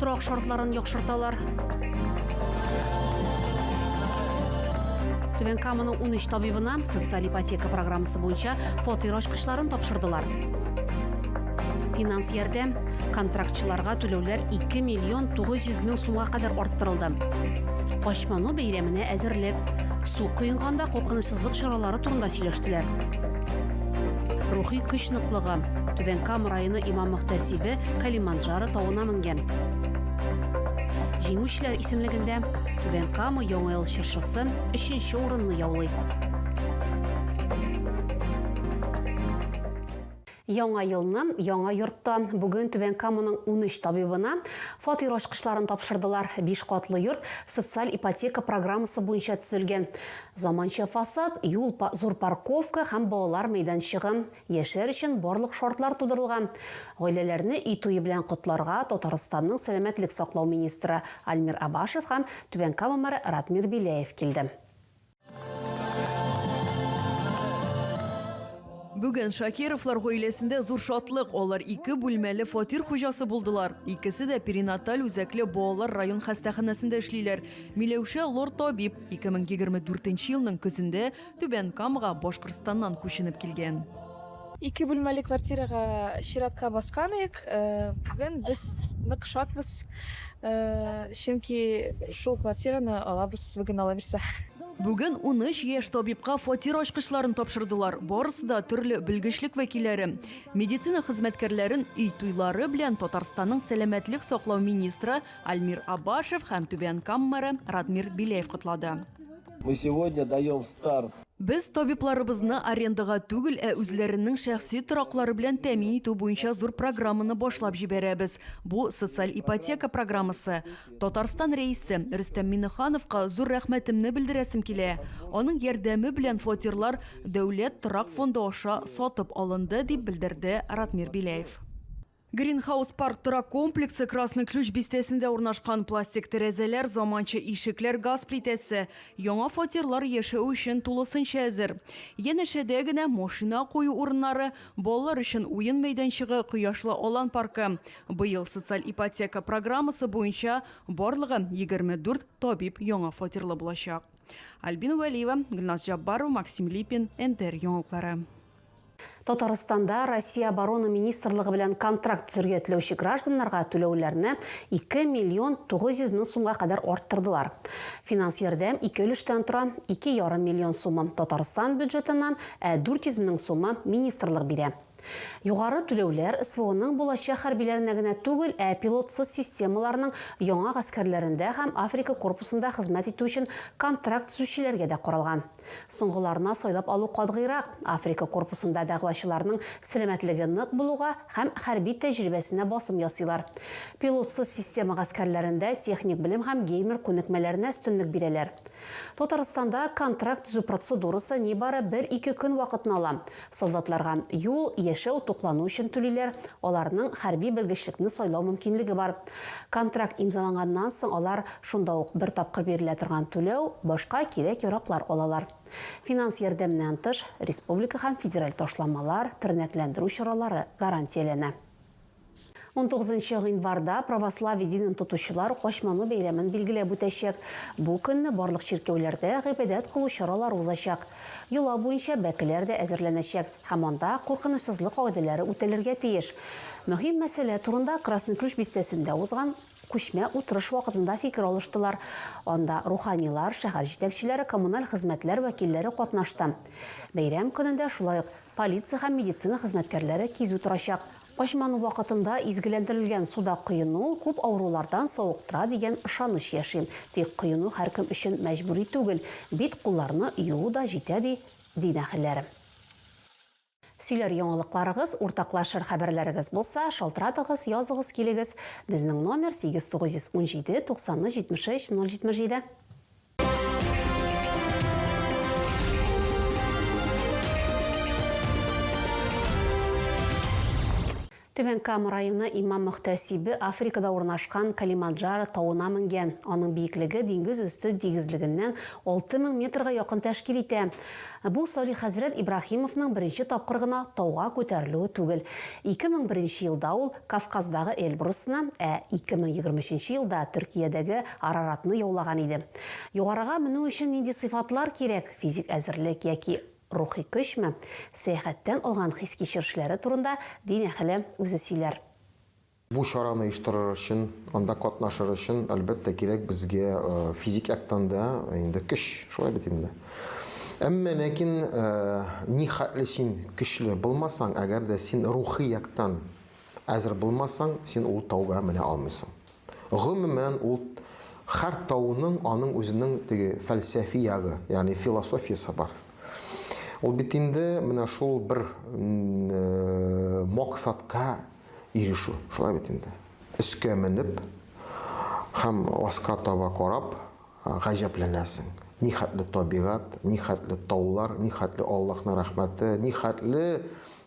Торак шартларын яхшырталар. Түбән Каманың 13 табибына социаль ипотека программасы буенча фатир ачкычларын тапшырдылар. Финанс ярдәм контрактчыларга түләүләр 2 миллион 900 мең сумга кадәр арттырылды. Качману бәйрәменә әзерлек. Су коенганда куркыныч хавфсызлык чаралары турында сөйләштеләр. Рухи көч ныклыгы. Түбән Кама районы имам-мөхтәсибе Калиманджаро тавына менгән. Җиңүчеләр исемлегендә Түбән Кама Яңа ел чыршысы өченче урынны яулый. Яңа елны яңа йортта. Бүген Түбән Каманың унөч табибына фатир ачкычларын тапшырдылар. Биш катлы йорт социаль ипотека программасы буенча төзелгән. Заманча фасад, юл, зур парковка һәм балалар мәйданчыгы, яшәр өчен барлык шартлар тудырылган. Гаиләләрне өй туе белән котларга Татарстанның сәламәтлек саклау министры Альмир Абашев һәм Түбән Кама мэры Ратмир Беляев килде. Бүген Шакировлар гаиләсендә зур шатлык. Алар ике бүлмәле фатир хуҗасы булдылар. Икесе дә перинаталь үзәкле балалар район хастаханәсендә эшлиләр. Миләүшә лор табиб 2024 елның көзендә Түбән Камага Башкортстаннан күченеп килгән. Ике бүлмәле квартирага чиратка баскан идек. Бүген без нык шатбыз, чөнки шул квартираны алабыз, бүген ала бирсә. Бүген унөч яшь табибка фатир ачкычларын тапшырдылар. Барысы да төрле белгечлек вәкилләре. Медицина хезмәткәрләрен өй туйлары белән Татарстанның сәламәтлек саклау министры Альмир Абашев һәм Түбән Кам мэры Радмир Беляев котлады. Мы сегодня даем старт. Без табибларыбызны арендага түгел, ә үзләренең шәхси тораклары белән тәэмин итү буенча зур программаны башлап җибәрәбез. Бу, социаль ипотека программасы. Татарстан Рәисе Рөстәм Миңнехановка зур рәхмәтемне белдерәсем килә. Аның ярдәме белән фатирлар Дәүләт торак фонды аша сатып алынды, дип белдерде Ратмир Беляев. Гринхаус парк торак комплексы Красный Ключ бистәсендә урнашкан. Пластик тәрәзәләр, заманча ишекләр, газ плитәсе. Яңа фатирлар яшәү өчен тулысынча әзер. Янәшәдә генә машина кую урыннары, балалар өчен уен мәйданчыгы, кояшлы алан паркы. Быел социаль ипотека программасы буенча барлыгы 24 табиб яңа фатирлы булачак. Альбина Вәлиева, Гөлназ Җаббарова, Максим Липин, НТР яңалыклары. Татарстанда Россия оборона министрлыгы белән контракт төзергә теләүче гражданнарга түләүләрне 2 миллион 900 мең сумга кадәр арттырдылар. Финанс ярдәм ике өлештән тора, 2,5 миллион сумы Татарстан бюджетыннан, ә 400 мең сумы министрлык бирә. Югары түләүләр СВОның булачак хәрбиләренә генә түгел, ә пилотсыз системаларның яңа гаскәрләрендә һәм Африка корпусында хезмәт итү өчен контракт төзүчеләргә дә каралган. Соңгыларына сайлап алу катгыйрак, Африка корпусында дәгъвачыларның сәламәтлеге нык булуга һәм хәрби тәҗрибәсенә басым ясыйлар. Пилотсыз система гаскәрләрендә техник белем һәм геймер күнекмәләренә өстенлек бирәләр. Татарстанда контракт төзү процедурасы нибары бер-ике көн вакытны ала, Солдатларга юл, яшәү, туклану өчен түлиләр, аларның хәрби белгечлекне сайлау мөмкинлеге бар. Контракт имзаланганнан соң алар шунда ук бер тапкыр бирелә торган түләү, башка кирәк-яраклар алалар. Финанс ярдәменнән тыш, республика һәм федераль ташламалар, тернәкләндерү чаралары гарантияләнә. Унтугызынчы гыйнварда православие динен тотучылар Качману бәйрәмен билгеләп үтәчәк. Бу көнне барлык чиркәүләрдә гыйбадәт кылу чаралары узачак. Йола буенча бәкеләр дә әзерләнәчәк һәм анда куркынычсызлык кагыйдәләре үтәлергә тиеш. Мөһим мәсьәлә турында Красный Ключ бистәсендә узган күчмә утырыш вакытында фикер алыштылар. Анда руханилар, шәһәр җитәкчеләре, коммуналь хезмәтләр вәкилләре катнашты. Бәйрәм көнендә шулай ук полиция һәм медицина хезмәткәрләре кизү торачак. Качману вакытында изгеләндерелгән суда коену күп авырулардан савыктыра дигән ышаныч яши. Тик коену һәркем өчен мәҗбүри түгел, бит-кулларны юу да җитә, ди дин әһелләре. Сөйләр яңалыкларыгыз, уртаклашыр хәбәрләрегез булса, шалтыратыгыз, языгыз килегез. Безнең номер, 8 917 90 73 077. Түбән Кама районы имам-мөхтәсибе Африкада урнашкан Калиманджаро тавына менгән. Аның биеклеге диңгез өсте тигезлегеннән 6000 метрга якын тәшкил итә. Бу Салих хәзрәт Ибраһимовның беренче тапкыр гына тауга күтәрелүе түгел. 2001 елда ул Кавказдагы Эльбрусны, ә 2023 елда Төркиядәге Араратны яулаган иде. Югарыга менү өчен нинди сыйфатлар кирәк, физик әзерлек яки рухи көчме, сәяхәттән алган хис-кичерешләре турында дин әһеле үзе сөйләр. Бу чараны оештырыр өчен, анда катнашыр өчен, әлбәттә, кирәк безгә физик яктан да инде көч, шулай бит инде. Әмма ләкин, ни хәтле син көчле булмасаң, әгәр дә син рухи яктан Әзер булмасаң, син ул тауга менә алмыйсың. Гомумән, ул һәр тауның аның үзенең теге фәлсәфи ягы, ягъни философиясе бар. Ул бит инде менә шул бер максатка ирешү. Шулай бит инде. Өскә менеп һәм аска таба карап гаҗәпләнәсең. Ни хәтле табигать, ни хәтле таулар, ни хәтле Аллаһның рәхмәте, ни хәтле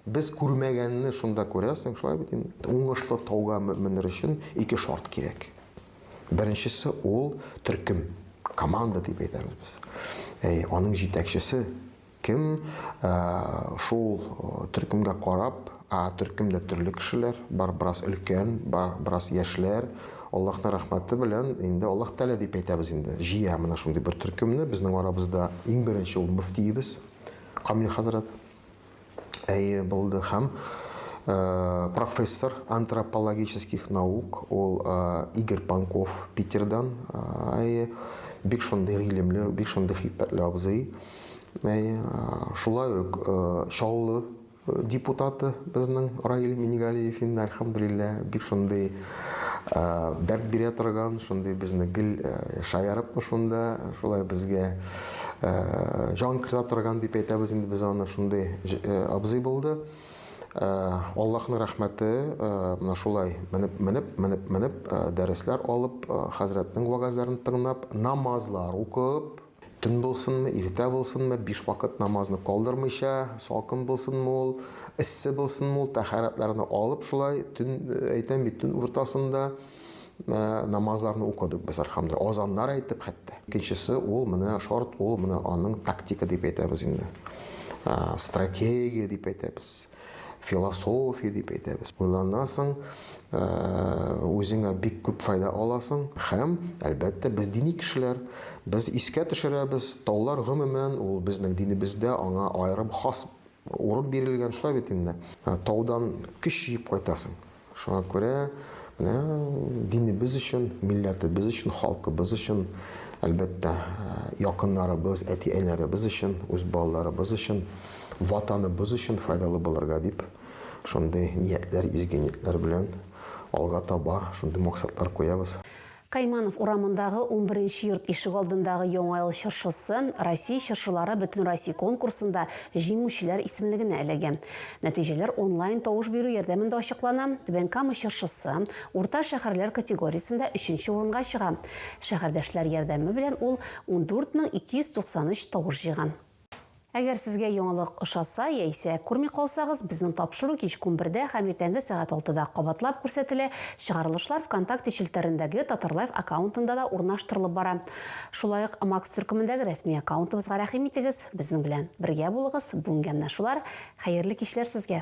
Без күрмәгәнне шунда күрәсең, шулай бит инде. Уңышлы тауга менер өчен ике шарт кирәк. Беренчесе ул төркем, команда дип әйтәбез без. Әй, аның җитәкчесе кем? Ә, шул э, төркемгә карап, ә төркемдә төрле кешеләр бар, бераз өлкән, бар, бераз яшьләр. Аллаһның рәхмәте белән инде Аллаһ Тәгалә дип әйтәбез инде. Җыя менә шундый бер төркемне. Безнең арабызда иң беренче ул мөфтиебез Камил хәзрәт. әйе булды һәм профессор антропологических наук ул Игорь Панков Питердан әйе бик шундый гыйлемле бик шундый хикмәтле абзый әйе шулай ук Чаллы депутаты безнең Раил Мингалиев инде альхамдулилла бик шундый дәрт бирә торган шундый безне гел шаярып шунда шулай безгә Э, җан кертә торган дип әйтәбез инде без аны шундый э, абзый булды э, аллаһның рәхмәте менә шулай менеп менеп менеп менеп дәресләр алып хәзрәтнең вәгазьләрен тыңлап намазлар укып төн булсынмы иртә булсынмы биш вакыт намазны калдырмыйча салкын булсынмы ул эссе булсынмы ул тәһарәтләрне алып шулай төн әйтәм бит төн уртасында намазларны укыдык без архамда азаннар әйтеп хәтта икенчесе ул менә шорт ул менә аның тактика дип әйтәбез инде стратегия дип әйтәбез философия дип әйтәбез уйланасың үзеңә бик күп файда аласың һәм әлбәттә без дини кешеләр без искә төшерәбез таулар гомумән ул безнең динебездә аңа аерым хас урын бирелгән шулай бит инде таудан көч җыеп кайтасың Шуңа күрә менә динебез өчен, милләтебез өчен, халкыбыз өчен, әлбәттә, якыннарыбыз, әти-әниләребез өчен, үз балаларыбыз өчен, ватаныбыз өчен файдалы булырга дип, шундый ниятләр, изге ниятләр белән алга таба шундый максатлар куябыз. Кайманов урамындагы унберенче йорт ишегалдындагы Яңа ел чыршысы Россия чыршылары бөтенроссия конкурсында җиңүчеләр исемлегенә эләгә. Нәтиҗәләр онлайн тавыш бирү ярдәмендә ачыклана. Түбән Кама чыршысы урта шәһәрләр категориясендә өченче урынга чыга. Шәһәрдәшләр ярдәме белән ул ундүрт мең ике йөз туксан өч тавыш җыйган. Әгәр сезгә яңалык ошаса яисә күрми калсагыз, безнең тапшыру кичке унбердә һәм иртәнге сәгать алтыда кабатлап күрсәтелә, чыгарылышлар Вконтакте челтәрендәге Татарлайф аккаунтында да урнаштырылып бара. Шулай ук Макс төркемендәге рәсми аккаунтыбызга рәхим итегез, безнең белән бергә булыгыз, бүгенгә менә шулар, хәерле кичләр сезгә!